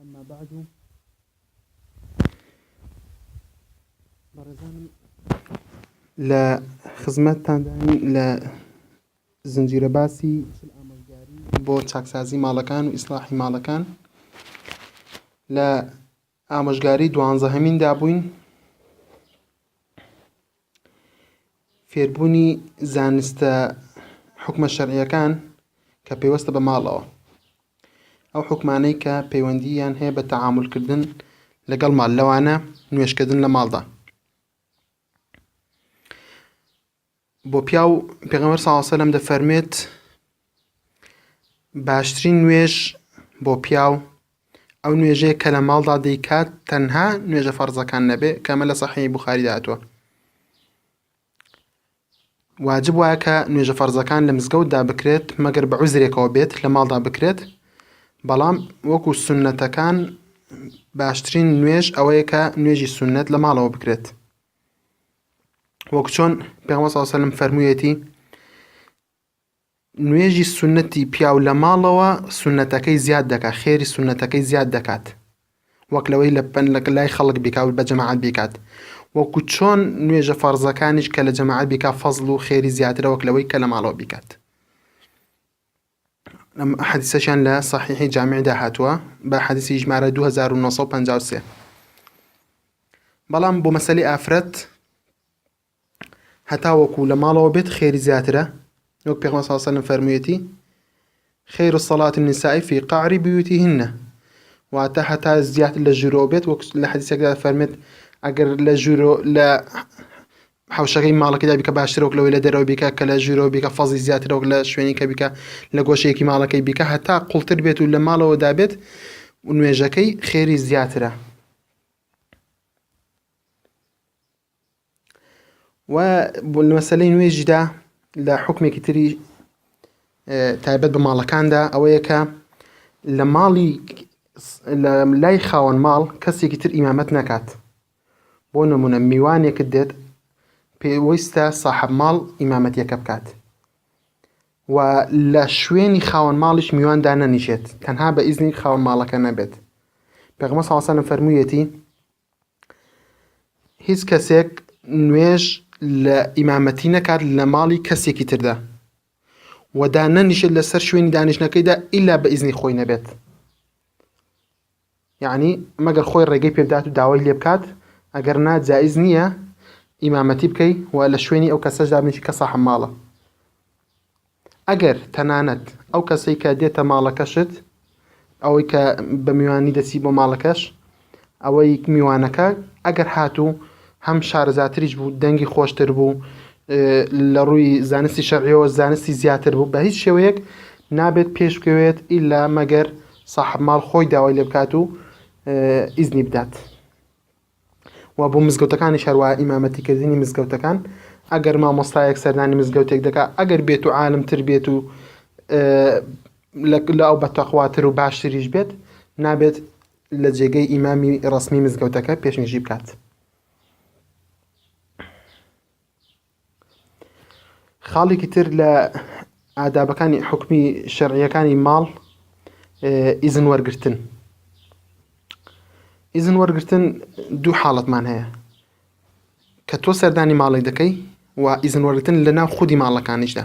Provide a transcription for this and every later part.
اما بعد بەڕێزانم لە خزمەتتاندان لە زنجیرە باسی بۆ چاکسازی ماڵەکان و ئیسلاحی ماڵەکان لە ئامۆژگاری دوانزەهەمیندا بووین. فێربوونی زانستە حکومە شەرعیەکان کە پەیوەستە بە ماڵەوە ئەو حکومانەی کە پەیوەندییان هەیە بە تەعاملکردن لەگەڵ مال لەوانە نوێشکردن لە ماڵدا بۆ پیاو پێغەمبەر صلی اللە علیه و سلم دەفەرمێت باشترین نوێژ بۆ پیاو ئەو نوێژەیە کە لە ماڵدا دەیکات تەنها نوێژە فەرزەکان نەبێ کەمە لە صحیح بخاری داهاتوە واجب وایە کە نوێژە فەرزەکان لە مزگەوتدا بکرێت مەگەر بە عوزرێکەوە بێت لە ماڵدا بکرێت بەڵام وەکو سنەتەکان باشترین نوێژ ئەوەیە کە نوێژی سنەت لە ماڵەوە بکرێت وەک چۆن پێغمبەر صلی اللە علیه و سلم فەرموویەتی نوێژی سنەتی پیاو لە ماڵەوە سنەتەکەی زیاد دەکات خێری سنەتەکەی زیاد دەکات وەک لەوەی لە پەن لە لای خەڵک بیکاو بە جەماعەت بیکات وەکو چۆن نوێژە فەرزەکانیش کە لە جەماعەت بیکا فەزڵ و خێری زیاترە وەک لەوەی کە لە ماڵەوە بیکات ئەم حەدیسەشیان لە صحیحی جامعدا هاتووە بە حەدیسی ژمارە 2953 بەڵام بۆ مەسەلی ئافرەت هەتا وەکو لە ماڵەوە بێت خێری زیاترە وەک پێغمە ساسەلم فەرموویەتی خێر و سەڵاتی نسایی فی قعری بیوتی هینە واتە هەتا زیاتر لە ژورەوە بێت وەک لە حەدیسەکەدا فەرمێت ئەگەر لە ژورۆ لە حەوشەکەی ماڵەکەدا بیکە باشترە وەک لەوەی لە دەرەوە بیکە کە لە ژوورەوە بیکە فەزی زیاترە وەک لە شوێنی کە بیکە لە گۆشەیەکی ماڵەکەی بیکە هەتا قوڵتر بێت و لە ماڵەوە دابێت و نوێژەکەی خێری زیاترە و بۆ مەسلەی نوێژیدا لە حکمێکی تری تایبەت بە ماڵەکاندا ئەوەیە کە لە ماڵی لای خاوەن ماڵ کەسێکی تر ئیمامەت نەکات بۆ نمونە میوانێکت دێت پێویستە ساحب ماڵ ئیمامەتیەکە بکات و لە شوێنی خاوەن ماڵیش میوان دانەنیشێت تەنها بە ئیزنی خاوەن ماڵەکە نەبێت پێغمە ساڵسانە فەرموویەتی هیچ کەسێک نوێژ لە ئیمامەتی نەکات لە ماڵی کەسێکی تردا وەدا نەنیشێت لەسەر شوێنی دانیشتەکەیدا ئیلا بە ئیزنی خۆی نەبێت یەعنی مەگەر خۆی ڕێگەی پێ بدات و داوای لێ بکات، ئەگەر نا جائیز نییە ئیمامەتی بکەی و لە شوێنی ئەو کەسەش دابنیشی کە ساحب ماڵە. ئەگەر تەنانەت ئەو کەسەی کە دێتە ماڵەکەشت، ئەوەی کە بە میوانی دەچی بۆ ماڵەکەش، ئەوەی میوانەکە ئەگەر هاتوو هەم شارەزاتریش بوو، دەنگی خۆشتر بوو، لە ڕووی زانستی شەرعیەوە زانستی زیاتر بوو، بە هیچ شێوەیەک نابێت پێش بکەوێت ئیلا مەگەر ساحەب ماڵ خۆی داوای لێ بکات و ئیزنی بدات و بۆ مزگەوتەکانی شاروا ئیمامەتی کردنی مزگەوتەکان ئەگەر مامۆستایەک سەردانی مزگەوتێک دەکا ئەگەر بێت و عالمتر بێت و لە ئەو بە تەخواتر و باشتریش بێت نابێت لە جێگەی ئیمامی ڕسمی مزگەوتەکە پێشنیژی بکات. خاڵێکی تر لە ئادابەکانی حکومی شەرعیەکانی ماڵ ئیزن وەرگتن ئیزن وەرگتن دوو حاڵەتمان هەیە کە تۆ سەردانی ماڵی دەکەی و ئیزن وەرگتن لە ناو خودی ماڵەکانیشدا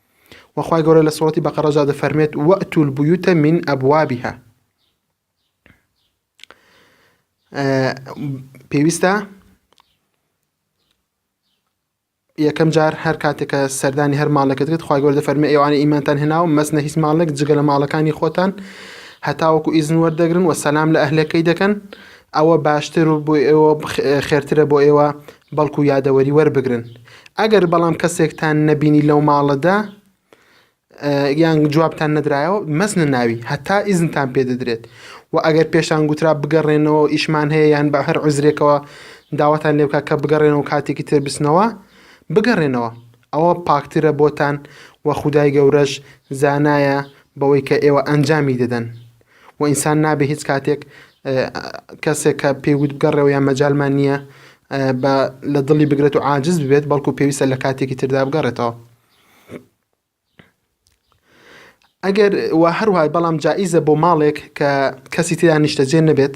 وە خوای گەورە لە سوڕەتی بەقەڕەجا دەفەرمێت وەئتو البیوت من ئەبوابها پێویستە یەکەم جار هەر کاتێکە سەردانی هەر ماڵەکە دێت خخوای گەۆر دەفەرمی ئەوانە ئیمانتان هێناو مەسنە هیچ ماڵێک جگە لە ماڵەکانی خۆتان هەتاوەکو ئیزن وەردەگرن و سەسلام لە ئەهلەکەی دەکەن ئەوە باشتر و بۆ ئێوە خێرترە بۆ ئێوە بەڵکو یادەوەری وەربگرن ئەگەر بەڵام کەسێکتان نەبینی لەو ماڵەدا یان جوابتان نەدرایەوە مەسنە ناوی هەتا ئیزنتان پێ دەدرێت و ئەگەر پێشان گوترا بگەڕێنەوە ئیشمان هەیە یان بە هەر عزرێکەوە داواتان لێ بکە کە بگەڕێنەوە کاتێکی تر بسنەوە بگەڕێنەوە ئەوە پاکترە بۆتان و خودای گەورەش زانایە بەوەی کە ئێوە ئەنجامی دەدەن و ئینسان نابێ هیچ کاتێک کەسێک کە پێی وت بگەڕێەوە یان مەجالمان نییە بە لە دڵی بگرێت و عاجز ببێت بەڵکو پێویستە لە کاتێکی تردا بگەڕێتەوە ئەگەر و هەروای بەڵام جائیزە بۆ ماڵێک کە کەسی تیا نیشتەجێ نەبێت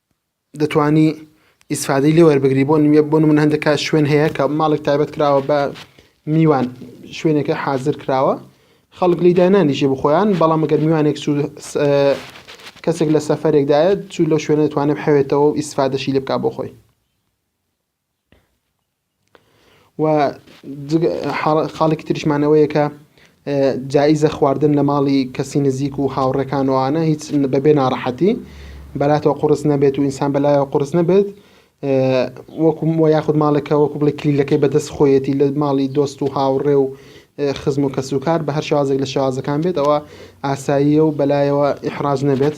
دەتوانی ئیسفادەی لێ وەربگری بۆ نوێ بۆ من هەندێک کات شوێن هەیە کە ماڵێک تایبەت کراوە بە میوان شوێنەکە حاضر کراوە خەڵک لی داینانیشێ بخۆیان بەڵام گەر میوانێک سوود کەسێک لە سەفرێکدایە چوو لەو شوێنە دەتوانێت حەوێتەوە و ئیسفادەشی لێ بک بۆ خۆی و خاڵێکی تریشمانەوەیە کە جاییزە خواردن لە ماڵی کەسی نزیک و هاوڕێکانەوەوانە هیچ بەبێ ناڕەحەتی بەلاتەوە قڕس نەبێت و ئینسان بەلایەوە قڕس نەبێت وەکوم وە یاخود ماڵەکە وەکو بڵی کلیلەکەی بەدەست خۆیەتی لە ماڵی دۆست و هاوڕێ و خزم و کەس و کار بە هەر شازێک لە شازەکان بێتەوە ئاساییە و بەلایەوە ئحراز نەبێت.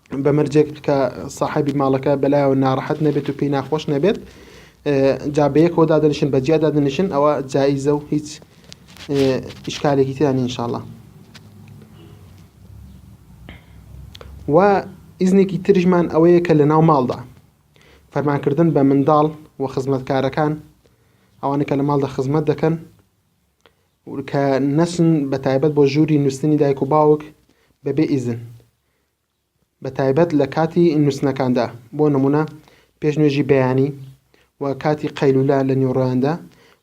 بە مەرجێک کە ساحبی ماڵەکە بەلایەوە ناڕەحەت نەبێت و پێی ناخۆش نەبێت جا بەیەکەوە دادنیشن بە جیا دادنیشن ئەوە جاییزە و هیچ ئیشکالێکی تیان انشاءله و ئیزنێکی ترژمان ئەوەیە کە لە ناو ماڵدا فەرمانکردن بە منداڵ و خزمەتکارەکان ئەوانە کە لە ماڵدا خزمەت دەکەن کە نەسن بە تایبەت بۆ ژووری نووسنی دایک و باوک بەبێ ئیزن بە تایبەت لە کاتی نووستنەکاندا، بۆ نموونە پێش نوێژی بەیانی و کاتی قەیلولە لە نیوەڕۆیاندا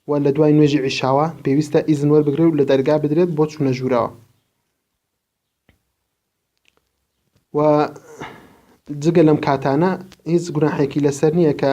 و لە دوای نوێژی عیشاوە، پێویستە ئیزن وەربگرێت و لە دەرگا بدرێت بۆ چوونە ژوورەوە. و جگە لەم کاتانە هیچ گوناحێکی لەسەر نییە کە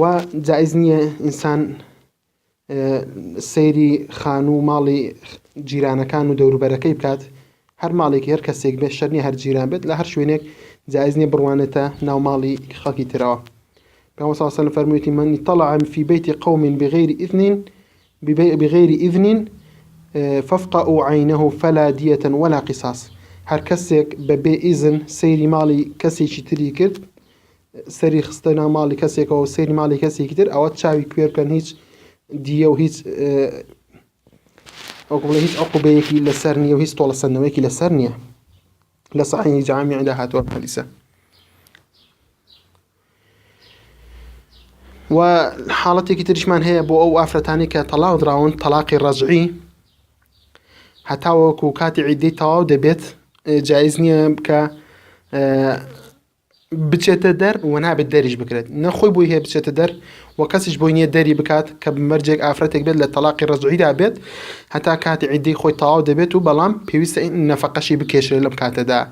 وا جائیز نییە ئینسان سەیری خانوو و ماڵی جیرانەکان و دەوروبەرەکەی بکات هەر ماڵێکی هەر کەسێک بێ شەرنی هەر جیران بێت لە هەر شوێنێک جائیز نییە بڕوانێتە ناو ماڵی خەڵکی ترەوە پێ ساسەن فەرموویەتی منی تەڵەعام فی بەیتی قەومین بغیری ئیذنین ببیع بغیر اذن فافقعو عینه فلا دیە ولا قصاص، هەر کەسێک بە بێ ئیزن سەیری ماڵی کەسێکی تری کرد سەری خستە ناو ماڵی کەسێکەوە و سەیری ماڵی کەسێکی تر ئەوە چاوی کوێر بکەن هیچ دیە و هیچ وەکو بڵێ هیچ عقوبەیەکی لەسەر نییە و هیچ تۆڵەسەندنەوەیەکی لەسەر نییە لە صحیح جامیعدا هاتووە حەدیسە و حاڵەتێکی تریشمان هەیە بۆ ئەو ئافرەتانی کە تەلاق دراون تەلاقی ڕەجعی هەتاوەکو کاتی عیددەی تەواو دەبێت جایز نییە کە بچێتە دەر و نابێت دەریش بکرێت نەخۆی بۆی هەیە بچێتە دەر و کەسیش بۆی نییە دەری بکات کە بمەرجێک ئافرەتێک بێت لە تەلاقی ڕزعیدا بێت هەتا کاتی عیددەی خۆی تەواو دەبێت و بەڵام پێویستە نەفەقەشی بکێشێت لەم کاتەدا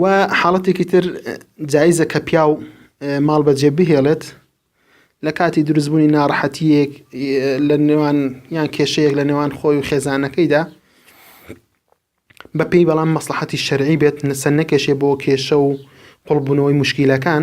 و حاڵەتێکی تر جایزە کە پیاو ماڵ بەجێ بهێڵێت لە کاتی دروستبوونی ناڕەحەتیەک لە نێوان یان کێشەیەک لە نێوان خۆی و خێزانەکەیدا بەپی بەڵام مەسلحەتی شەرعی بێت نەسەر نەکێشێ بۆ کێشە و قوڵبوونەوەی مشکیلەکان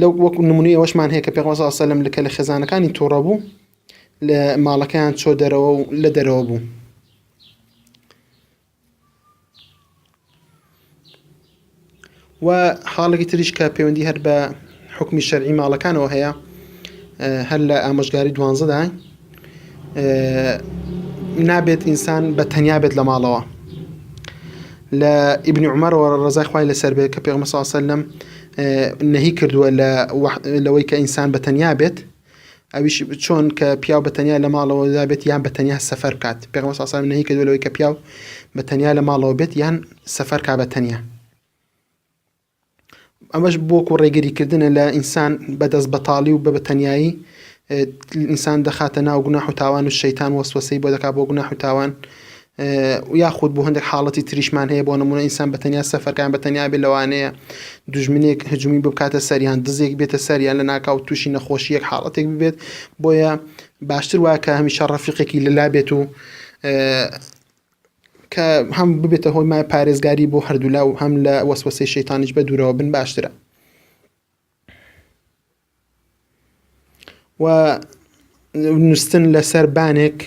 لەو وەکو نمونی ئەوەشمان هەیە کە پێغمبەر صلی اللە علیه و سلم کە لە خێزانەکانی تووڕە بوو لە ماڵەکەیان چۆ دەرەوە و لە دەرەوە بوو و حاڵێکی تریش کە پەیوەندی هەر بە حکمی شەرعی ماڵەکانەوە هەیە هەر لە ئامۆژگاری دوانزەدا نابێت ئینسان بە تەنیا بێت لە ماڵەوە لە ئیبنی عمەرەوە ڕزای خخوای لەسەر بێت کە پێ مەساسەر لەم نەهی کردووە لە لەوەی کە ئینسان بە تەنیا بێت ئەویش چۆن کە پیاو بە تەنیا لە ماڵەوە دابێت یان بە تەنیا سەفەر بکات پێ مەساسەر نەهی کردو لەوەی کە پیاو بە تەنیا لە ماڵەوە بێت یان سەفەرکە بە تەنیا ئەمەش بۆکو ڕێگری کردنە لە ئینسان بە دەست بەتاڵی و بە بەتەنایی ئینسان دەخاتە ناو گوناح و تاوان و شەیتان وەسوەسەی بۆ دەکات بۆ گوناح و تاوان یاخود بۆ هەندێک حاڵەتی تریشمان هەیە بۆ نمونە ئینسان بە تەنیا سەفەرکان بە تەنیا بێ لەوانەیە دژمنێک هجممی بکاتە سەریان دزێک بێتە سەریان لە ناکاو تووشی نەخۆشیەک حاڵەتێک ببێت بۆیە باشتر وایە کە هەمیشە ڕەفیقێکی لەلا بێت و کە هەم ببێتە هۆی مای پارێزگاری بۆ هەردوولا و هەم لە وەسوەسەی شەیتانیش بە دوورەوە بن باشترە و نووسن لە سەربانێک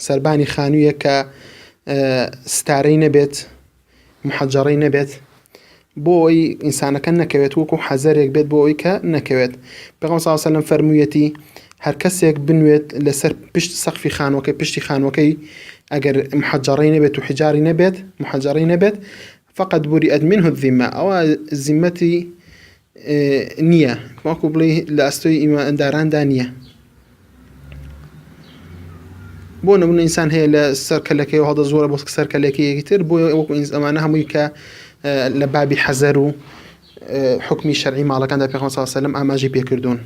سەربانی خانوویە کە ستارەی نەبێت محجەڕەی نەبێت بۆ ئەوەی ئینسانەکە نەکەوێت وەکو حەزەرێک بێت بۆ ئەوەی کە نەکەوێت پێغەمبەر صلی اللە علیه و سلم فەرموویەتی هەر کەسێک بنوێت لەسەر پشت سەقفی خانوەکەی پشتی خانوەکەی ئەگەر محجەڕەی نەبێت و حجاری نەبێت محجەڕەی نەبێت فقط بوری ئەدمین هدیمە ئەوە زیمەتی نییە وەکو بڵێ لە ئەستۆی ئیمانداراندا نییە بۆ نمونە ئینسان هەیە لە سەر کەلەکەی هەڵدە زۆرە بۆ سەر کەلەکەیەکی تر بۆ وەکو ئەمانە هەمووی کە لە بابی حەزەر و حکمی شەرعی ماڵەکاندا پێخۆ ساسەلم ئاماژی پێکردوون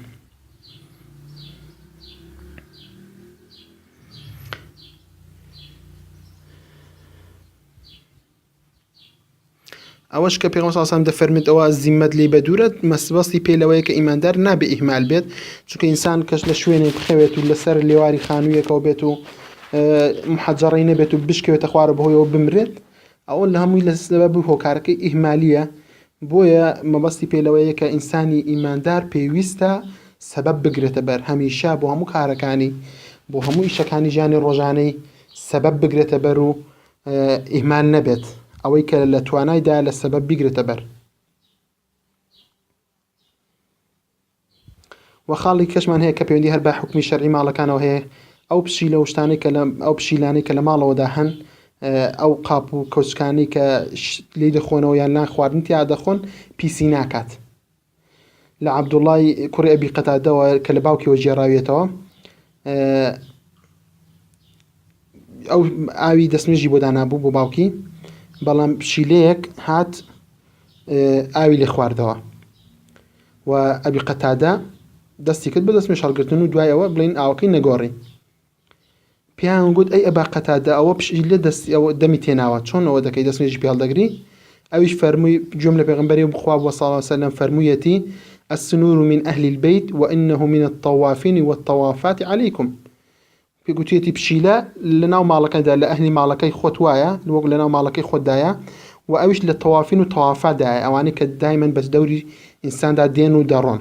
ئەوەش کە پێغەمبەر صلی الله علیه و سلم دەفەرمێت ئەوە زیممەت لی بەدوورە مەسبەستی پێ لەوەیە کە ئیماندار نابێ ئیهمال بێت چونکە ئینسان کەش لە شوێنێک بخەوێت و لەسەر لێواری خانوویەکەوە بێت و محەجڕی نەبێت و بشکێتە خوارە بەهۆیەوە بمرێت ئەوە لە هەمووی لە سبە بوو هۆکارەکەی ئیهمالیە بۆیە مەبەستی پێ لەوەیە کە ئینسانی ئیماندار پێویستە سەبەب بگرێتە بەر هەمیشە بۆ هەموو کارەکانی بۆ هەموو ئیشەکانی ژیانی ڕۆژانەی سەبەب بگرێتە بەر و ئیهمال نەبێت ئەوەی کە لە توانای دایە لە سەبەب بیگرێتە بەر و خاڵی کەشمان هەیە کە پەیوەندی هەر بە حکومی شەرعی ماڵەکانەوە هەیە ئەو پشیلە و شتانەی کە لە ئەو پشیلانەی کە لە ماڵەوەدا هەن ئەو قاپ و کەوچکانی کە لی دەخۆنەوە یان لان خواردن تیا دەخۆن پیسی ناکات لە عەبدوڵای کوڕی ئەبی قەتادەوە کە لە باوکیەوە گێڕاویێتەوە ئەو ئاوی دەستنوێژی بۆ دانابوو بۆ باوکی بەڵام پشیلەیەک هات ئاوی لێ خواردەوە و ئەبی قەتادە دەستی کرد بە دەستنوێ شەڵگرتن و دوایەوە بڵین ئاوەکەی نەگۆڕی پێیان گوت، ئەی ئەبا قەتادە، ئەوە پشتی لێ دەستی ئەوە دەمی تێناوە، چۆن ئەوە دەکەی، دەست نوێژی پێ هەڵدەگری؟ ئەویش فەرمووی، گوێم لە پێغەمبەری خوا بووە، صلی اللە وسلم، فەرموویەتی، السنور من اهل البیت و انه من الطوافین و الطوافات علیکم. پێ گوتویەتی، پشیلە لەناو ماڵەکەیدا، لە ئەهلی ماڵەکەی خۆت وایە، وەک لەناو ماڵەکەی خۆتدایە، و ئەویش لە طوافین و طوافاتدایە، ئەوانەی کە دایمەن بە دەوری ئینساندا دێن و دەڕۆن.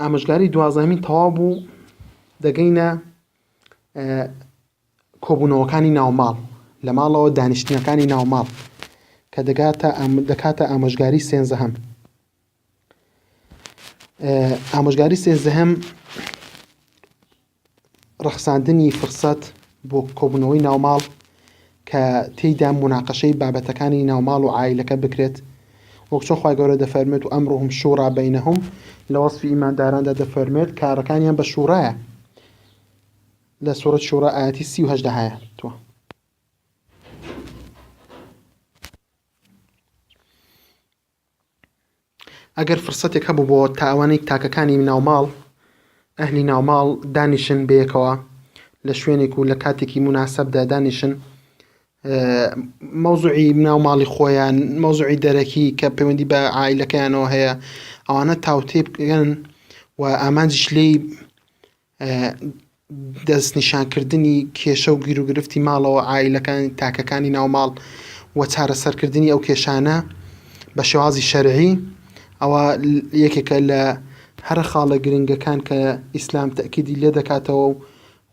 ئامۆژگاری دوازدەمین تەواو بوو دەگەینە کۆبوونەوەکانی ناوماڵ لە ماڵەوە دانیشتنەکانی ناوماڵ کە دەگاتە دەکاتە ئامۆژگاری سێنزەهەم ئامۆژگاری سێنزەهەم ڕەخساندنی فرسەت بۆ کۆبوونەوەی ناوماڵ کە تێیدا مناقەشەی بابەتەکانی ناوماڵ و عایلەکە بکرێت وەک چۆن خوای گەورە دەفەرمێت و ئەمرهم شوڕا بەینەهم لە وەسفی ئیمانداراندا دەفەرمێت کارەکانیان بە شوڕایە لە سوورەت شوڕا ئاەتی سی و هەشدا هەیە توە ئەگەر فرسەتێک هەبوو بۆ تا ئەوانەی تاکەکانی ناو ماڵ ئەهلی ناو ماڵ دانیشن بەیەکەوە لە شوێنێک و لە کاتێکی مناسبدا دانیشن مەوزوعی ناو ماڵی خۆیان مەوزوعی دەرەکی کە پەیوەندی بە عیلەکەیانەوە هەیە ئەوانە تاوتێ بکەن و ئامانجیش لێی دەستنیشانکردنی کێشە و گیروگرفتی ماڵەوە عائیلەکان تاکەکانی ناوماڵ و چارەسەرکردنی ئەو کێشانە بە شێوازی شەرعی ئەوە یەکێکە لە هەرە خاڵە گرنگەکان کە ئیسلام تەکیدی لێ دەکاتەوە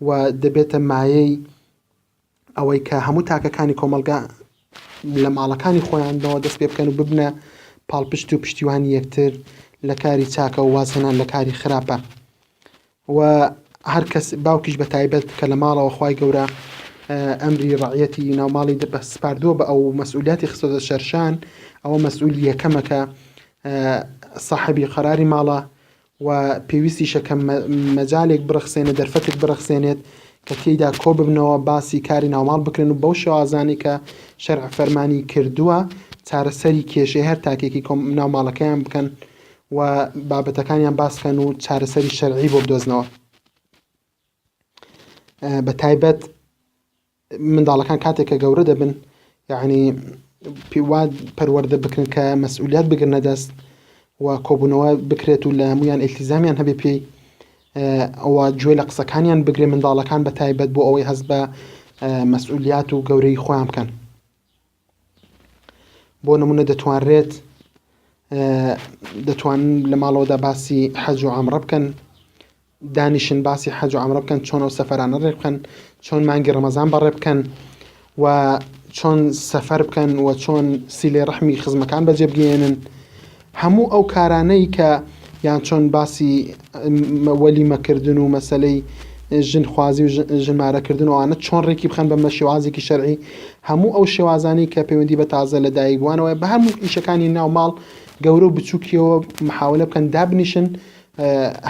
و دەبێتە مایەی ئەوەی کە هەموو تاکەکانی کۆمەڵگا لە ماڵەکانی خۆیانەوە دەست پێ بکەن و ببنە پاڵپشت و پشتیوانی یەکتر لە کاری چاکە و وازهێنان لە کاری خراپە و هەر کەس باوکیش بە تایبەت کە لە ماڵەوە خی گەورە ئەمری ڕعەتی ناوماڵی دەپە سپاردووە بە ئەو مەسئولیاتی خستۆدە شەرشان ئەوە مەسئول یەکەمەکە سەحبی قەراری ماڵە و پێویستیشە کە مەجالێک بڕەخسێنێت دەرفەتێک بڕەخسێنێت کە تێیدا کۆ ببنەوە باسی کاری ناوماڵ بکرێن و بەو شێوازانەی کە شەرع فەرمانی کردووە چارەسەری کێشەی هەر تاکێکی ناوماڵەکەیان بکەن و بابەتەکانیان باسکەن و چارەسەری شەرعی بۆ بدۆزنەوە بە تایبەت منداڵەکان کاتێک کە گەورە دەبن یعنی پیوا پەروەەردە بکرن کە مەسئولیت بگرنە دەست و کۆبوونەوە بکرێت و لە هەمویان ئلتیزامیان هەبێ پێی ئەوە گوێ لە قسەکانیان بگرێ منداڵەکان بە تایبەت بۆ ئەوەی هەست بە مەسئولیت و گەورەی خۆیان بکەن. بۆ نمونە دەتوانرێت دەتوان لە ماڵەوەدا باسی حەج و ئامڕە بکەن دانیشن باسی حەج و ئامڕە بکەن چۆنەوە سەفەرانە ڕێ بکەن چۆن مانگی ڕەمەزان بەڕێ بکەن و چۆن سەفەر بکەن و چۆن سیلێ ڕەحمی خزمەکان بەجێبگەێنن هەموو ئەو کارانەی کە یان چۆن باسی وەلیمە کردن و مەسلەی ژن خوازی و ژمارە کردن وانە چۆن ڕێکی بخەن بە مەشێوازێکی شەرعی هەموو ئەو شێوازانی کە پەیوەندی بە تازە لە دایک بووانەوە بە هەموو ئیشەکانی ناو ماڵ گەورە و بچووکیەوە محاولە بکەن دابنیشن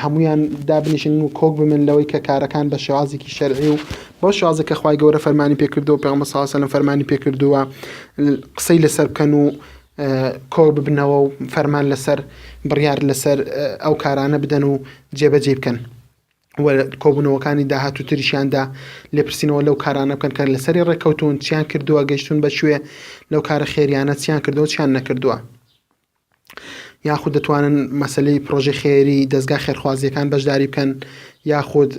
هەمویان دابنیشن و کۆک بمن لەوەی کە کارەکان بە شێوازێکی شەرعی و بۆ شازە کە خخوای گەورە فەرمانی پێکردەوە پێ مەساسەلم فەرمانی پێکردووە قسەی لەسەر بکەن و کۆ ببنەوە و فەرمان لەسەر بڕیار لەسەر ئەو کارانە بدەن و جێبەجێی بکەن و کۆبوونەوەکانی داهاتوو تریشیاندا لێپرسینەوە لەو کارانە بکەن کە لەسەری ڕێککەوتون چیان کردووە گەشتون بە شوێ لەو کارە خێریانە چیان کردەوە چیان نەکردووە یاخود دەتوانن مەسلەی پرۆژی خێری دەستگا خێرخوازیەکان بەشداری بکەن یاخود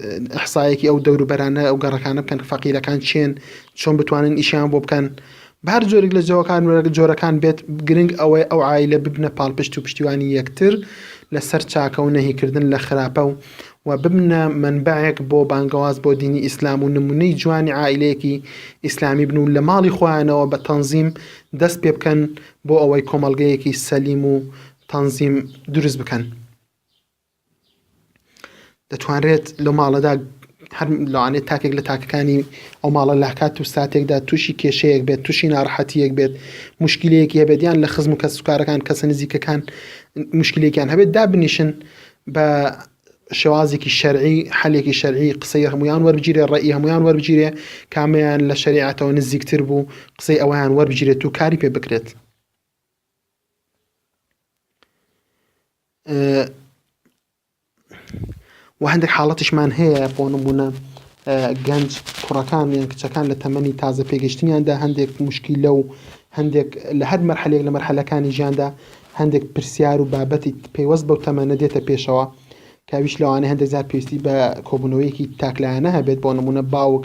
حسایەکی ئەو دەوروبەرانە ئەو گەڕەکانە بکەن فەقیرەکان چێن چۆن بتوانن ئیشیان بۆ بکەن بە هەر جۆرێک لە جەوەکان و جۆرەکان بێت، گرنگ ئەوەیە ئەو عایلە ببنە پاڵپشت و پشتیوانی یەکتر لە سەر چاکە و نەهی کردن لە خراپە و و ببنە مەنبەعێک بۆ بانگەواز بۆ دینی ئیسلام و نمونەی جوانی عائیلەیەکی ئیسلامی بن و لە ماڵی خۆیانەوە بە تەنزیم دەست پێ بکەن بۆ ئەوەی کۆمەڵگەیەکی سەلیم و تەنزیم دروست بکەن. دەتوانرێت لە ماڵەدا هەر لەوانێت تاکێک لە تاکەکانی ئەو ماڵە لە کات و ساتێکدا تووشی کێشەیەک بێت تووشی ناڕەحەتیەک بێت مشکلەیەکی هەبێت یان لە خزم و کەس سوکارەکان کەسە نزیکەکان مشکلێکیان هەبێت دابنیشن بە شێوازێکی شەرعی حلێکی شەرعی قسەی هەمویان وەربگیرێ ڕێی هەمویان وەربگیرێ کامیان لە شریعەتەوە نزیکتر بوو قسەی ئەویان وەربگیرێت و کاری پێ بکرێت وە هەندێک حاڵەتیشمان هەیە بۆ نمونە گەنج کوڕەکان یان کچەکان لە تەمەنی تازە پێگەشتنیاندا هەندێک مشکیلە و هەندێک لە هەر مەرحەلێک لە مەرحەلەکانی ژیاندا هەندێک پرسیار و بابەتی پەیوەست بەو تەمەنە دێتە پێشەوە کاویش لەوانەیە هەندێک زار پێویستی بە کۆبوونەوەیەکی تاکلایەنە هەبێت بۆ نمونە باوک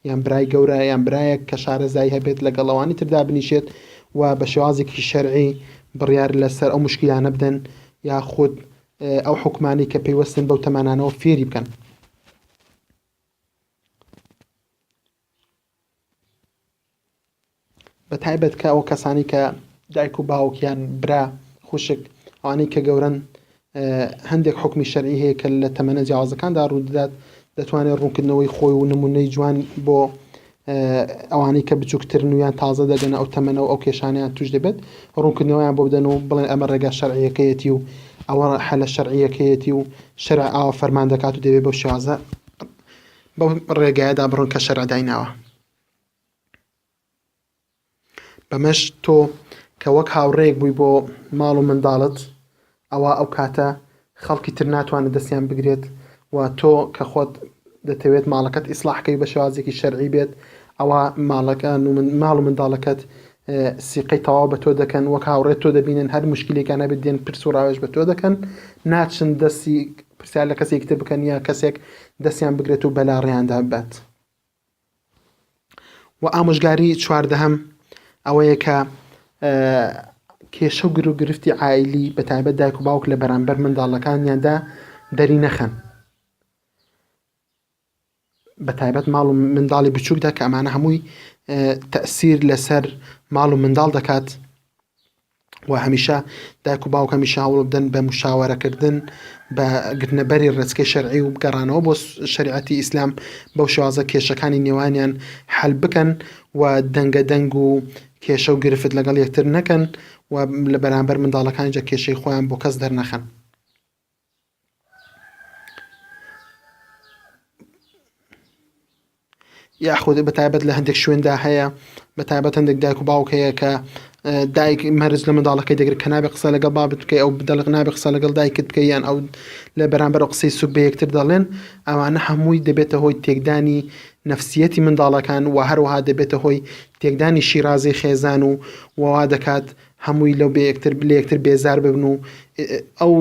یان برای گەورە یان برایەک کە شارەزایی هەبێت لەگەڵ ئەوانی تر دابنیشێت و بە شێوازێکی شەرعی بڕیار لەسەر ئەو مشکیلانە بدەن یاخود ئەو حکومانی کە پەیوەستن بەو تەمانانەوە فێری بکەن بە تایبەت کە ئەو کەسانی کە دایک و باوک یان برا خوشک ئەوانەی کە گەورەن هەندێک حکمی شەرعی هەیە کە لە تەمەنە جیاوازەکاندا ڕوودەدات دەتوانێت ڕوونکردنەوەی خۆی و نمونەی جوان بۆ ئەوانەی کە بچووکترن و یان تازە دەگەنە ئەو تەمەنە و ئەو کێشانیان توش دەبێت ڕوونکردنەوەیان بۆ بدەن و بڵێن ئەمە ڕێگا شەرعیەکەیەتی و ئەوە حەلە شەرعیەکەیەتی و شەرع ئاوە فەرمان دەکات و دەبێت بەو شێوازە بەو ڕێگایەدا بڕۆن کە شەرع دایناوە بەمەش تۆ کە وەک هاوڕێیەک بووی بۆ ماڵ و منداڵت ئەوا ئەو کاتە خەڵکی تر ناتوانێت دەستیان بگرێت و تۆ کە خۆت دەتەوێت ماڵەکەت ئیسلاحکەی بە شێوازێکی شەرعی بێت ئەوە ماڵەکان و ماڵ و منداڵەکەت سیقەی تەواو بە تۆ دەکەن وەک هاوڕێت تۆ دەبینن هەر مشکلێکانە بێت دێن پرس و ڕاوێژ بە تۆ دەکەن ناچن دەستی پرسیار لە کەسێکتر بکەن یا کەسێک دەستیان بگرێت و بەلا ڕێیاندا بات و ئامۆژگاری چواردەهەم ئەوەیە کە کێشە و گرو گرفتی عیلی بە تایبەت دایک و باوک لە بەرامبەر منداڵەکانیاندا دەری نەخەن بە تایبەت ماڵ و منداڵی بچووکدا کە ئەمانە هەمووی تەسیر لەسەر ماڵ و منداڵ دەکات و هەمیشە دایک و باوکەمیشە هەوڵبدەن بە مشاوەرەکردن بە گرتنەبەری ڕێچکەی شەرعی و گەڕانەوە بۆ شریعەتی ئیسلام بەو شوازە کێشەکانی نێوانیان حل بکەن و دەنگە دەنگ و کێشە و گرفت لەگەڵ یەکتر نەکەن و لە بەرامبەر منداڵەکانیجا کێشەی خۆیان بۆ کەس دەرنەخەن یاخود بە تایبەت لە هەندێک شوێندا هەیە بە تایبەت هەندێک دایک و باوک هەیە کە دایک مەرز لە منداڵەکەی دەگرێت کە نابێ قسە لەگەڵ بابت بکەی ئەو بدەڵق نابێ قسە لەگەڵ دایکت بکە یان ئەو لە بەرامبەر قسەی سوک بە یەکتر دەڵێن ئەوانە هەمووی دەبێتە هۆی تێکدانی نفسیەتی منداڵەکان و هەروەها دەبێتە هۆی تێکدانی شیرازی خێزان و ووا دەکات هەمووی لەو بێ یەکتر لە یەکتر بێزار ببن و ئەو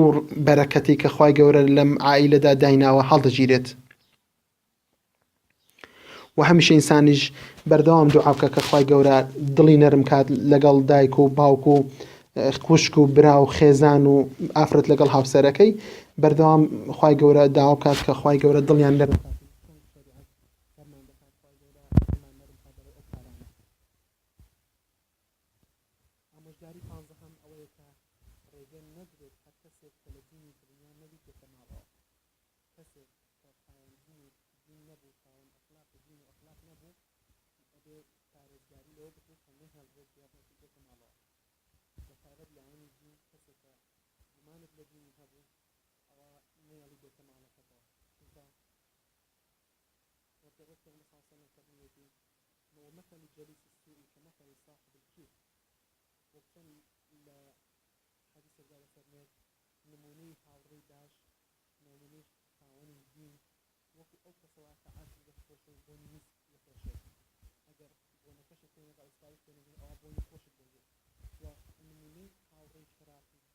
بەرەکەتی کە خوای گەورە لەم عائیلەدا دایناوە هەڵدەگیرێت و هەمیشە ئینسانیش بەردەوام دوعا بکە کە خوای گەورە دڵی نەرم کات لەگەڵ دایک و باوک و خوشک و برا و خێزان و ئافرەت لەگەڵ هاوسەرەکەی بەردەوام خوای گەورە داوا بکات کە خوای گەورە دڵیان نەرم کات ئامۆژگاری پانزەهەم ئەوەیە کە ڕێگە نەدرێت هەر کەسێک کە لە دینی دڵنیا نەبیت بێتە ماڵەوە. کەسێک کە خاوەن دین و دین نەبوو، خاوەن ئەخلاق و دین و ئەخلاق نەبوو، ئەبێت پارێزگاری لەوە بکەیت کە نەهێڵرێت بێڕێکی بێتە ماڵەوە. بە تایبەت لایەنی دین، کەسێک کە گومانت لە دینی هەبوو، ئەوا نەیەڵی بێتە ماڵەکەتەوە، چونکە وەک پێغەمبەر صلی اللە علیە وسلم فەرموویەتی، وە مثل الجلیس السوء کمثل صاحب الکیر وەک چۆن لە حەدیسێکدا دەفەرموێت نموونەی هاوڕێی باش نموونەی خاوەنی دین وەکو ئەو کەسە وایە کە عەتری دەفرۆشێ و بۆنی میسک دەفرۆشێت ئەگەر بۆنەکەشت پێ نەدا ئوستاریش پێ نەدەی ئەوا بۆنی خۆشت دەوێ وە نموونەی هاوڕێی خراپ و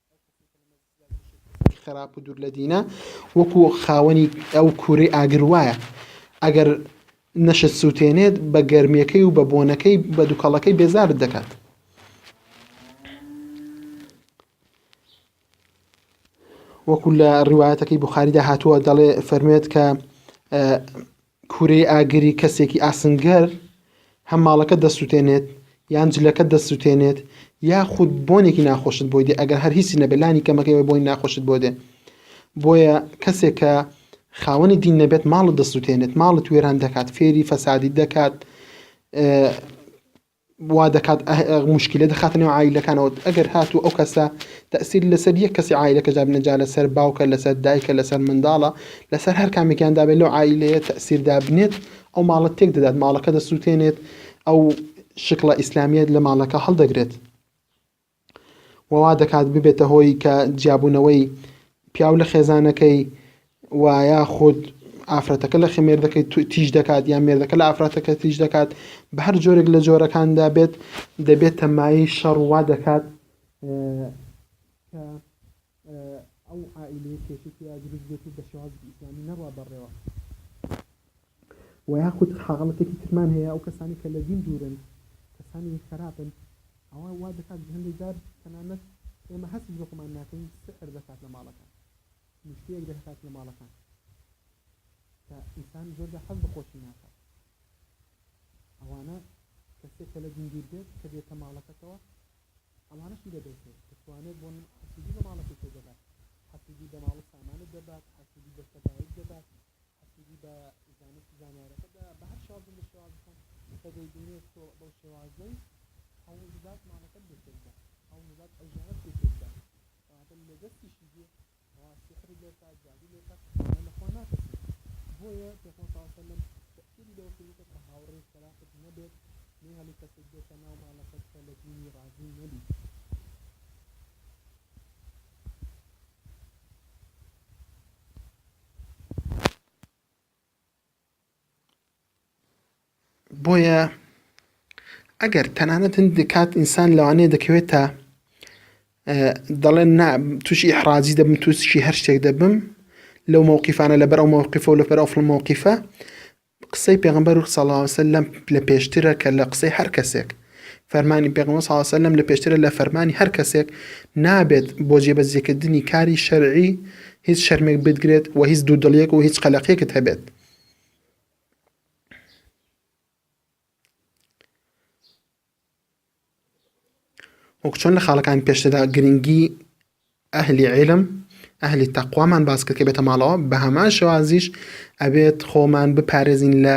خراپ و دوور لە دینە وەکو خاوەنی ئەو کوورەی ئاگر وایە ئەگەر نەشت سووتێنێت بە گەرمیەکەی و بە بۆنەکەی بە دووکەڵەکەی بێزارت دەکات وەکو لە ڕیواەتەکەی بخاریدا هاتووە دەڵێ فەرموێت کە کورەی ئاگری کەسێکی ئاسنگەر هەم ماڵەکەت دەسوتێنێت یان جلەکەت دەسوتێنێت یاخود بۆنێکی ناخۆشت بۆی دێ ئەگەر هەر هیچی نەبێت لانی کەمەکەی بۆی ناخۆشت بۆ دێ بۆیە کەسێکە خاوەنی دین نەبێت ماڵت دەسوتێنێت ماڵت وێران دەکات فێری فەسادی دەکات وا دەکات موشکیلە دەخاتە نێو عایلەکانەوە ئەگەر هاتوو ئەو کەسە تەسیر لەسەر یەک کەسی عیلەکە دابنە جا لەسەر باوکە لەسەر دایکە لەسەر منداڵە لەسەر هەر کامێکیان دابێت لەو عیلەیە تەسیر دابنێت ئەو ماڵەت تێک دەدات ماڵەکە دەسووتێنێت ئەو شکڵە ئیسلامیت لە ماڵەکە هەڵدەگرێت و وا دەکات ببێتە هۆی کە جیابوونەوەی پیاو لە خێزانەکەی و یاخود ئافرەتەکە لە خێمێردەکەی تیژ دەکات یان مێردەکە لە ئافرەتەکە تیژ دەکات بە هەر جۆرێک لە جۆرەکاندا بێت دەبێت تەمایی شەڕ وا دەکات ئەو عائلەیە کێشێکی دروست بێت و بە شێوازی ئیسلامی نەڕوا بەڕێوە وە یاخود حاڵەتێکی ترمان هەیە ئەو کەسانەی کە لە دین دوورن کەسانی خەراپن ئەوە وا دەکات کە هەندێک جار تەنانەت ئێمە هەستیش بە خۆمان ناکەین سحر دەکات لە ماڵەکان نوشتەیەک دەکات لە ماڵەکان کە ئینسان زۆر جار حەز بە خۆشی ناکات ئەوانە کەسێک کە لە دین دوور بێت کە دێتە ماڵەکەتەوە ئەوانەشی لێ دەوتێت دەتوانێت بۆ حەسودی بە ماڵەکەی تۆ دەبات حەسودی بە ماڵ و سامانت دەبات حەسودی بە سەر دایک دەبات حەسوودی بە زانست زانیارەکە دا بە هەر شێوازێک لە شێوازەکان کە دەیبینێت تۆ بەو شێوازەی هەوڵ بدات ماڵەکەت بۆ کۆ بکات هەوڵ بدات ئەو ژیانەت پێ کۆ بکات کەواتە لە دەستیشی دێ ئەوا سحری لێ بکات جادوو لێ بکات ئەوانە لە خوا ناترسن بۆیە پێغەمبەر صلی الله علیه و سلم تەکیدی لەوە کردووە کە هاوڕێی خراپت نەبێت نەیهێڵی کەسێک بێتە ناو ماڵەکەت کە لە دینی ڕازی نەبیت بۆیە ئەگەر تەنانەت هەندێک کات ئینسان لەوانەیە دەکەوێتە دەڵێن نا تووشی حراجی دەبم تووشی هەر شتێک دەبم لەو مووقیفانە لەبەر ئەو مووقیفە و لەپەر ئەو فڵمەوەقیفە قسەی پێغەمبەر صلی اللە علیە و سلم لە پێشترە کە لە قسەی هەر کەسێک، فەرمانی پێغەمبەر صلی اللە علیە و سلم لە پێشترە لە فەرمانی هەر کەسێک، نابێت بۆ جێبەجێکردنی کاری شەرعی هیچ شەرمێک بتگرێت و هیچ دوودڵیەک و هیچ قەلەقێکت هەبێت. وەکو چۆن لە خاڵەکانی پێشتردا گرنگی ئەهلی عیلم ئەهلی تەقوامان باس کرد کە بێتە ماڵەوە بە هەمان شێوازیش ئەبێت خۆمان بپارێزین لە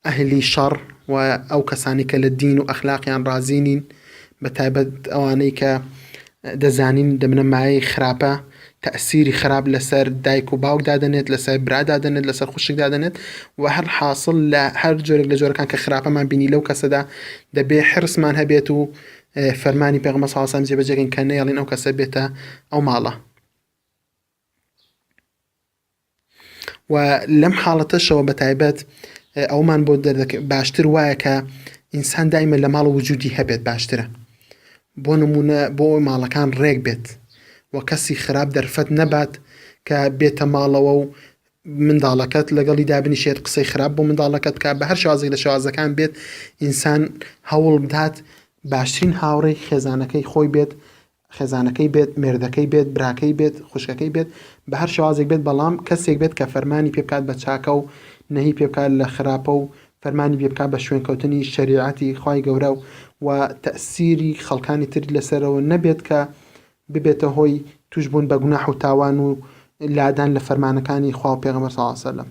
ئەهلی شەڕ و ئەو کەسانی کە لە دین و ئەخلاقیان ڕازی نین بە تایبەت ئەوانەی کە دەزانین دەبنە مایەی خراپە، تەئسیری خراپ لەسەر دایک و باوک دادەنێت، لەسەر برا دادەنێت، لەسەر خوشک دادەنێت و هەر حاسڵ لە هەر جۆرێک لە جۆرەکان کە خراپەمان بینی لەو کەسەدا دەبێ حرصمان هەبێت و فەرمانی پێغەمبەر صلی اللە علیە و سلم جێبەجێ کەین کە نەیەڵین ئەو کەسە بێتە ئەو ماڵە. و لەم حاڵەتەشەوە بە تایبەت ئەومان بۆ دەردەکە باشتر وایە کە ئینسان دایمە لە ماڵ وجودی هەبێت باشترە بۆ نمونە بۆ ماڵەکان ڕێک بێت و کەسی خراپ دەرفەت نەبات کە بێتە ماڵەوە و منداڵەکەت لەگەڵی دابنیشێت قسەی خراپ بۆ منداڵەکەت کا بە هەر شازێک لە شازەکان بێت ئینسان هەوڵ بدات باشترین هاوڕێی خێزانەکەی خۆی بێت خێزانەکەی بێت، مێردەکەی بێت، براکەی بێت، خوشکەکەی بێت، بە هەر شێوازێک بێت، بەڵام کەسێک بێت کە فەرمانی پێ بکات بە چاکە و نەهی پێ بکات لە خراپە و فەرمانی پێ بکات بە شوێنکەوتنی شەریعەتی خوای گەورە و تەئسیری خەڵکانی تر لەسەرەوە نەبێت کە ببێتە هۆی تووشبوون بە گوناح و تاوان و لادان لە فەرمانەکانی خوا و پێغەمبەر صلی اللە علیه وسلم.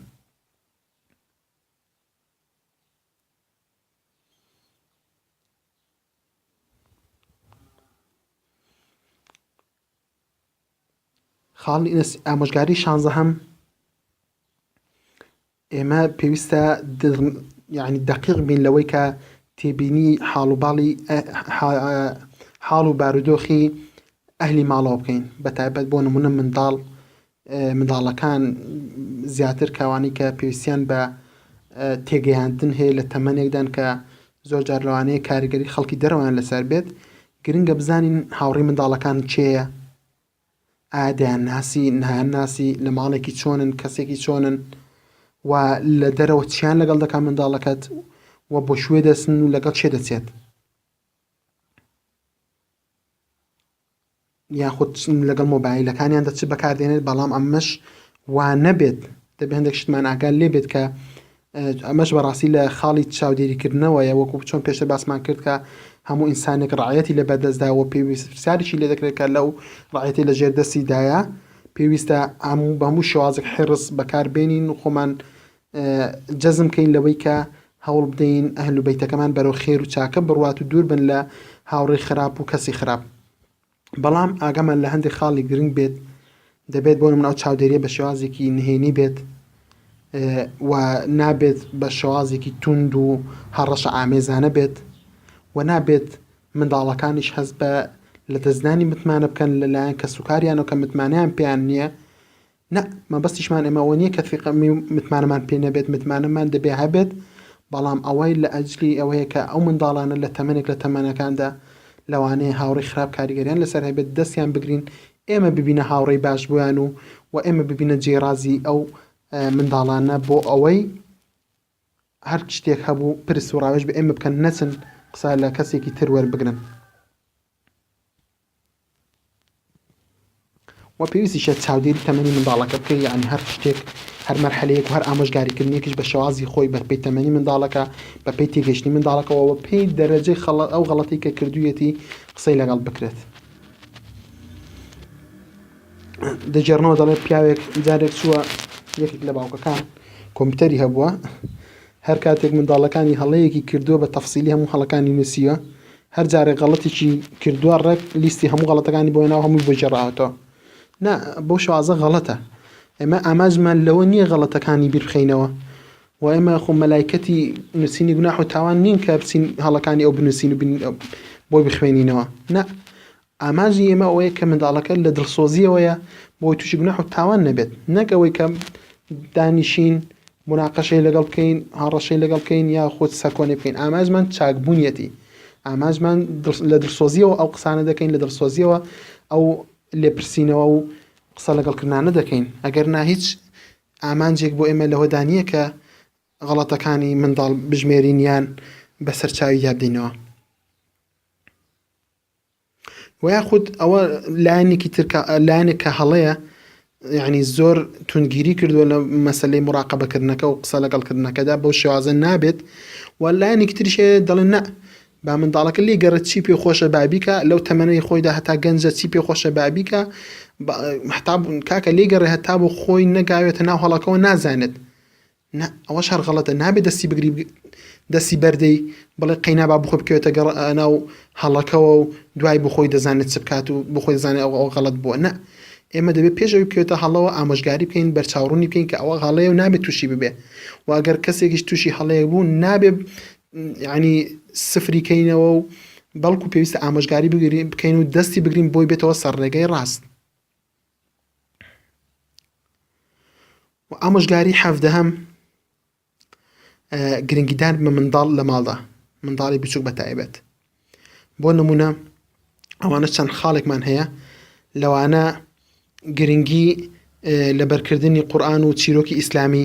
خاڵی ئامۆژگاری شانزەهەم ئێمە پێویستە یعنی دقیق بین لەوەی کە تێبینی حاڵ و باڵی حاڵ و بارودۆخی ئەهلی ماڵەوە بکەین بە تایبەت بۆ نمونە منداڵ منداڵەکان زیاتر کەوانەی کە پێویستیان بە تێگەیاندن هەیە لە تەمەنێکدان کە زۆرجار لەوانەیە کاریگەری خەڵکی دەرەوەیان لەسەر بێت گرنگە بزانین هاوڕی منداڵەکان چێە ئادەیان ناسی نایان ناسی لە ماڵێکی چۆنن کەسێکی چۆنن و لە دەرەوە چیان لەگەڵ دەکات منداڵەکەت و بۆ شوێ دەسن و لەگەڵ چێ دەچێت یاخود لەگەڵ مۆبایلەکانیاندا چ بەکاردێنێت بەڵام ئەمەش وا نەبێت دەبێ هەندێک شتمان ئاگال لێ بێت کە ئەمەش بەڕاستی لە خاڵی چاودێریکردنەوەیە وەکو چۆن پێشە باسمان کرد کە هەموو ئینسانێک ڕعەتی لە بەدەستداوە پێویست پرسیارێکی لێ دەکرێت کە لەو ڕعەتی لە ژێر دەستیدایە پێویستە ئەم بە هەموو شێوازێک حێڕس بەکاربێنین و خۆمان جەزم کەین لەوەی کە هەوڵ بدەین ئەهل و بەیتەکەمان بەرەو خێر و چاکە بڕوات و دوور بن لە هاوڕێی خراپ و کەسی خراپ بەڵام ئاگامان لە هەندێک خاڵی گرنگ بێت دەبێت بۆ مناو چاودێریە بە شێوازێکی نهێنی بێت و نابێت بە شێوازێکی توند و هەڕەشە ئامێزانە بێت و نابێت منداڵەکانیش هەز بە لە دەستدانی متمانە بکەن لەلایەن کە سوکاریانەوە کە متمانیان پێیان نییە نا، مەبەستیشمان ئێمە ئەوە نییە کە ثیقە بین و متمانەمان پێ نەبێت، متمانەمان دەبێ هەبێت، بەڵام ئەوە لە ئەجلی ئەوەیە کە ئەو منداڵانە لە تەمەنێک لە تەمەنەکاندا لەوانەیە هاوڕێی خراپ کاریگەریان لەسەر هەبێت، دەستیان بگرین، ئێمە ببینە هاوڕێی باش بۆیان و و ئێمە ببینە جێی ڕازیی ئەو منداڵانە بۆ ئەوەی. هەر شتێک هەبوو پرس و ڕاوێژ بە ئێمە بکەن نەچن قسە لە کەسێکی تر وەربگرن و پێویستیشە چاودێری تەمەنی منداڵەکە بکەی یعنی هەر شتێک هەر مەرحەلەیەک و هەر ئامۆژگاریکردنێکیش بە شێوازی خۆی بە پێی تەمەنی منداڵەکە بە پێی تێگەشتنی منداڵەکەەوە بە پێی دەرەجەی خەڵە ئەو غەڵەتی کە کردوویەتی قسەی لەگەڵ بکرێت دەگێڕنەوە دەڵێ پیاوێک جارێک چووە یەکێک لە باوکەکان کۆمپیوتەری هەبووە هەر کاتێک منداڵەکانی هەڵەیەکی کردووە بە تەفسیلی هەموو هەڵەکانی نووسیوە هەر جارێک غەڵەتێکی کردووە ڕێک لیستی هەموو غەڵەتەکانی بۆی ناو هەمووی بەجێڕاوەتەوە نا بۆ شازە غەڵەتە ئێمە ئاماژمان لەوە نییە غەڵەتەکانی بیرخینەوە و ئێمە خۆ مەلایکەتی نووسینی گوناح و تاوان نین کە بچین هەڵەکانی ئەو بنووسین و بۆی بخوێنینەوە نا ئامانجی ئێمە ئەوەیە کە منداڵەکە لە دڵسۆزییەوەیە بۆ ئەوەی تووشی گوناح و تاوان نەبێت، نەک ئەوەی کە دانیشین مناقەشەی لەگەڵ بکەین، هەڕەشەی لەگەڵ بکەین یاخود سەرکۆنەی بکەین، ئامانجمان چاکبوونیەتی، ئامانجمان لە دڵسۆزییەوە ئەو قسانە دەکەین، لە دڵسۆزییەوە ئەو لێپرسینەوە و قسە لەگەڵ کردنانە دەکەین، ئەگەر نا هیچ ئامانجێک بۆ ئێمە لەوەدا نییە کە غەڵەتەکانی منداڵ بژمێرین یان بەسەر چاوی دابدەینەوە. وە یاخود ئەوە لایەنێکی تر کە لایەنێک کە هەڵەیە یعنی زۆر تونگیری کردووە لە مەسلەی مراقبەکردنەکە و قسە لەگەڵکردنەکەدا بەو شێوازە نابێت و لایەنێکی تریشێ دەڵێن نە با منداڵەکە لێ گەڕێت چی پێ خۆشە بابیکە لەو تەمەنەی خۆیدا هەتا گەنجە چی پێ خۆشە بابیکە هەتا کاکە لێ گەڕێ هەتا بۆ خۆی نەگاوێتە ناو هەڵەکەەوە نازانێت نا ئەوەش هەر غەڵەتە نابێ دەستی بگری دەستی بەردەی بڵێ قەینا با بخۆی بکەوێتە گەڕ ناو هەڵەکەوە و دوای بخۆی دەزانێت چ بکات و بخۆی دەزانێت ئەوە ئەوە غەڵەت بووە نا ئێمە دەبێت پێش ئەوی بکەوێتە هەڵەوە ئامۆژگاری بکەین بەرچاوڕوونی بکەین کە ئەوە هەڵەیە و نابێت تووشی ببێ و ئەگەر کەسێکیش تووشی هەڵەیە بوو نابێ ینی سفری کەینەوە و بەڵکو پێویستە ئامۆژگاری بگرین بکەین و دەستی بگرین بۆی بێتەوە سەر ڕێگەی ڕاست و ئامۆژگاری حەفدەهەم گرنگیدان بە منداڵ لە ماڵدا منداڵی بچووک بە تایبەت بۆ نمونە ئەوانە چەند خاڵێکمان هەیە لەوانە گرنگی لەبەرکردنی قورآن و چیرۆکی ئیسلامی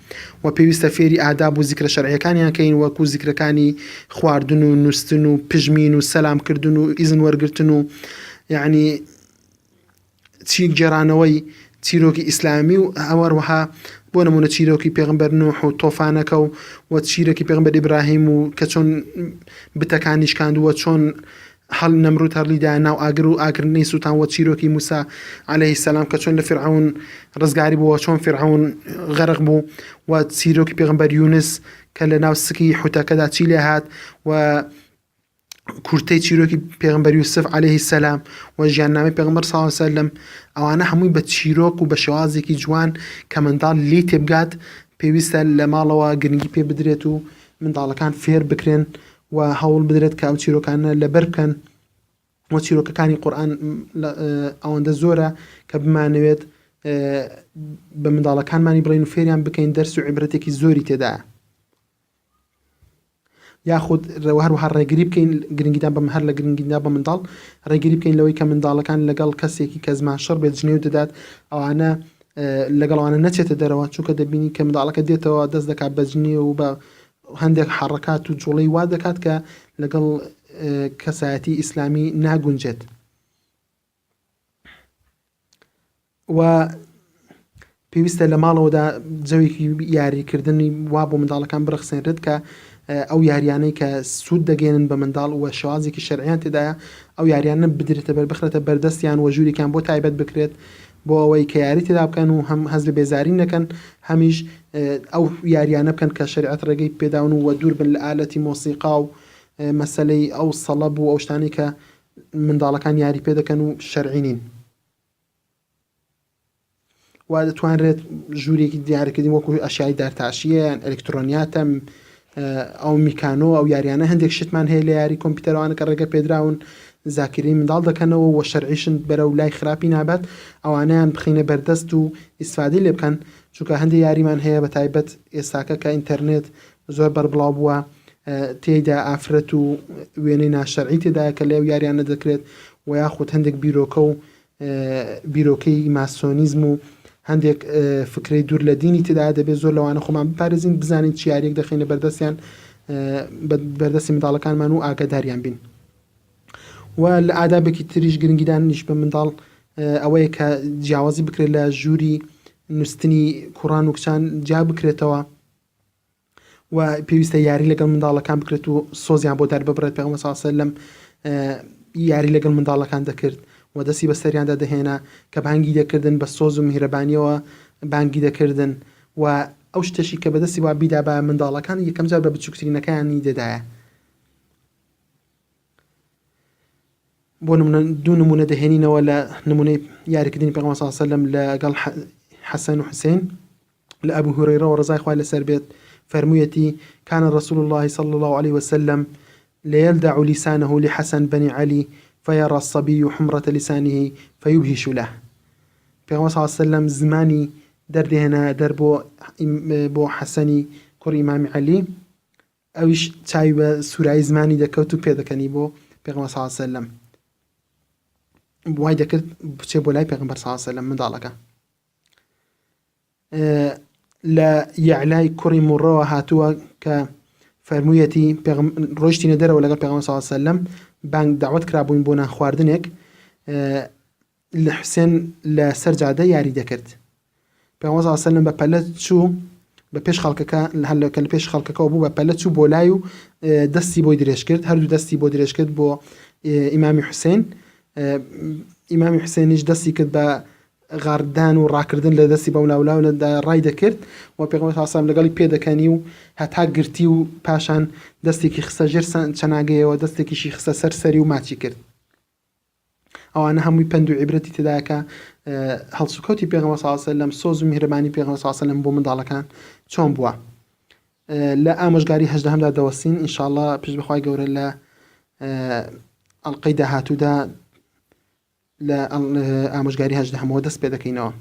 وە پێویستە فێری ئاداب و زیکرە شەرعیەکانیان کەین وەکو زیکرەکانی خواردن و نوستن و پژمین و سەلام کردن و ئیزن وەرگرتن و یەعنی چی گێرانەوەی چیرۆکی ئیسلامی و ئەوەروەها بۆ نمونە چیرۆکی پێغمبەر نوح و تۆفانەکە و وە چیرەکی پێغمبەر ئیبراهیم و کە چۆن بتەکانی شکاندووە چۆن هەڵی نەمرود هەرلی دایە ناو ئاگر و ئاگر نەی سوتان وە چیرۆکی موسا عەلەیهی سەلام کە چۆن لە فیرعەون ڕزگاری بووە چۆن فیرعەون غەرق بوو و چیرۆکی پێغمبەر یونس کە لە ناو سکی حوتەکەدا چی لێ هات و کورتەی چیرۆکی پێغمبەر یوسف عەلەیهی سەلام و ژیاننامەی پێغمبەر صلی الله علیه وسلم ئەوانە هەمووی بە چیرۆک و بە شێوازێکی جوان کە منداڵ لی تێبگات پێویستە لە ماڵەوە گرنگی پێ بدرێت و منداڵەکان فێر بکرێن و هەوڵ بدرێت کە ئەو چیرۆکانە لەبەر بکەن و چیرۆکەکانی قورآن ئەوەندە زۆرە کە بمانەوێت بە منداڵەکانمانی بڵین و فێریان بکەین دەرس و عیبرەتێکی زۆری تێدایە یاخود هەروها ڕێگری بکەین گرنگیدان بەم هەر لە گرنگیدا بە منداڵ ڕێگری بکەین لەوەی کە منداڵەکان لەگەڵ کەسێکی کە زمان شەڕ بێت جنێو دەدات ئەوانە لەگەڵوانە نەچێتە دەرەوە چونکە دەبینی کە منداڵەکە دێتەوە دەست دەکات بەجنێ و بە هەندێک حەڕەکات و جوڵەی وا دەکات کە لەگەڵ کەسایەتی ئیسلامی ناگونجێت و پێویستە لە ماڵەوەدا جەوێکی یاریکردنی وا بۆ منداڵەکان بڕخسێنرێت کە ئەو یاریانەی کە سوود دەگەێنن بە منداڵ وە شوازێکی شەریان تێدایە ئەو یاریانە بدرێتە بەر بخرێتە بەردەستیان وە ژوورێکیان بۆ تایبەت بکرێت بۆ ئەوەی کە یاری تێدا بکەن و هەم هەست بە بێزاری نەکەن هەمیش ئەو یاریانە بکەن کە شەریعەت ڕێگەی پێداون و وە دوور بن لە ئالەتی مۆسیقا و مەسەلەی ئەو سەڵەب و ئەو شتانەی کە منداڵەکان یاری پێ دەکەن و شەرعی نین وا دەتوانرێت ژوورێکی دیارکردنی وەکو ئەشیای دارتاشیە یان ئەلکترۆنیاتە ئەو میکانۆ ئەو یاریانە هەندێک شتمان هەیە لە یاری کۆمپیوتەرەوانە کە ڕێگە پێدراون زاکری منداڵ دەکەنەوە و شەرعیشن بەرە و لای خراپی نابات ئەوانیان بخینە بەردەست و ئیسفادی لێ بکەن چونکە هەندی یاریمان هەیە بە تایبەت ئێستاکە کە ئینتەرنێت زۆر بەربڵاو بووە تێیدا ئافرەت و وێنەی ناشەرعی تێدایە کە لێو یاریانە دەکرێت و یاخود هەندێک بیرۆکە و بیرۆکەی ماسۆنیزم و هەندێک فکرەی دوور لە دینی تدا دەبێت زۆر لەوانە خۆمان بپارێزین بزانین چیارێک دەخینە بەردەستیان بەردەستی منداڵەکانمان و ئاگاداریان بین و لە ئادابێکی تریش گرنگیدان نیش بە منداڵ ئەوەیە کە جیاوازی بکرێت لە ژووری نووسنی کوڕان و کچان جا بکرێتەوە و پێویستە یاری لەگەڵ منداڵەکان بکرێت و سۆزیان بۆ دەرببڕێت پێغمبەر صلی الله علیه و سلم یاری لەگەڵ منداڵەکان دەکرد و دەستی بەسەریاندا دەهێنا کە بانگی دەکردن بە سۆز و میهرەبانیەوە بانگی دەکردن و ئەو شتەشی کە بەدەستی وا بیدا بە منداڵەکان یەکەم جار بە بچووکترینەکانی دەدایە بۆ نمونە دوو نمونە دەهێنینەوە لە نمونەی یاریکردنی پێغەمبەر صلی الله علیه و سلم لەگەڵ حەسەن و حوسێن لە ئەبو هورەیرەوە ڕەزای خوای لەسەر بێت فەرموویەتی کان رسول الله صلی الله عليه وسلم ليلدع لسانه لحسن بن علي فيرى الصبي حمرة لسانه فيبهش له پێغەمبەر صلی الله عليه وسلم زمانی دەردێنا دەر بۆ بۆ حەسەنی کوڕی ئیمامی عەلی ئەویش چاوی بە سورایی زمانی دەکەوت و پێدەکەنی بۆ پێغمە ساسە لەم وای دەکرد بچێ بۆ لای پێغمبەر ساسە لە منداڵەکە لە یعلای کوڕی مڕەوە هاتووە کە فەرموویەتی ڕۆشتینە دەرەوە لەگەڵ پێغمە ساسە لەم بانگ داوت کرابووین بۆ نان خواردنێک لە حوسێن لە سەر جادە یاری دەکرد پێغەمبەر صلی الله علیه و سلم بە پەلە چوو بە پێش خەڵکەکە هەر لە کە لە پێش خەڵکەکەەوە بوو بە پەلە چوو بۆ لای و دەستی بۆی درێژ کرد هەردوو دەستی بۆ درێژ کرد بۆ ئیمامی حوسێن ئیمامی حوسێنیش دەستی کرد بە غاردان و ڕاکردن لە دەستی بەم لاولا و لەدا ڕای دەکرد و پێغمە تاسام لەگەڵی پێدەکەنی و هەتا گرتی و پاشان دەستێکی خستە ژێر چەناگەیەوە دەستێکیشی خستە سەر سەری و ماچی کرد ئەوانە هەمووی پەند و عیبرەتی تێدایە کە هەڵسوکەوتی پێغەمبەر صلی الله علیه و سلم سۆز و میهرەبانی پێغەمبەر صلی الله علیه و سلم بۆ منداڵەکان چۆن بووە لە ئامۆژگاری هەژدەهەمدا دەوەستین ان شاء الله پشت بەخوای گەورە لە ئەڵلقەی داهاتوودا لە ئامۆژگاری هەژدەهەمەوە دەست پێ دەکەینەوە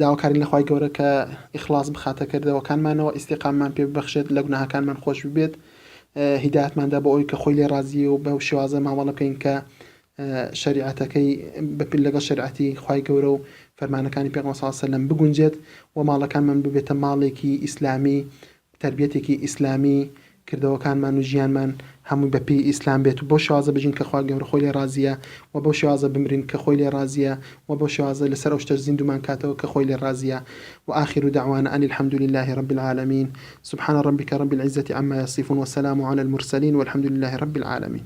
داواکارین لە خوای گەورە کە ئیخڵاس بخاتە کردەوەکانمانەوە، ئیستیقامەمان پێ ببەخشێت، لە گوناهەکانمان خۆش ببێت، هیدایەتماندا بۆ ئەوەی کە خۆی لێ ڕازییە و بەو شێوازە مامەڵە بکەین کە شەریعەتەکەی لەگەڵ شەریعەتی خوای گەورە و فەرمانەکانی پێغەمبەر صلی اللە علیه و سلم بگونجێت و ماڵەکانمان ببێتە ماڵێکی ئیسلامی تەربیەتێکی ئیسلامی کردەوەکانمان و ژیانمان هەمووی بە پێی ئیسلام بێت و بەو شێوازە بژین کە خوا گەورە خۆی لێ ڕازیە و بەو شێوازە بمرین کە خۆی لێ ڕازیە و بەو شێوازە لەسەر ئەو شتەش زیندوومان کاتەوە کە خۆی لێ ڕازیە و آخر دعوانا ان الحمد للە رب العالمین سبحان ربک رب العزە عما یصفون والسلام علی المرسلین والحمد للە رب العالمین.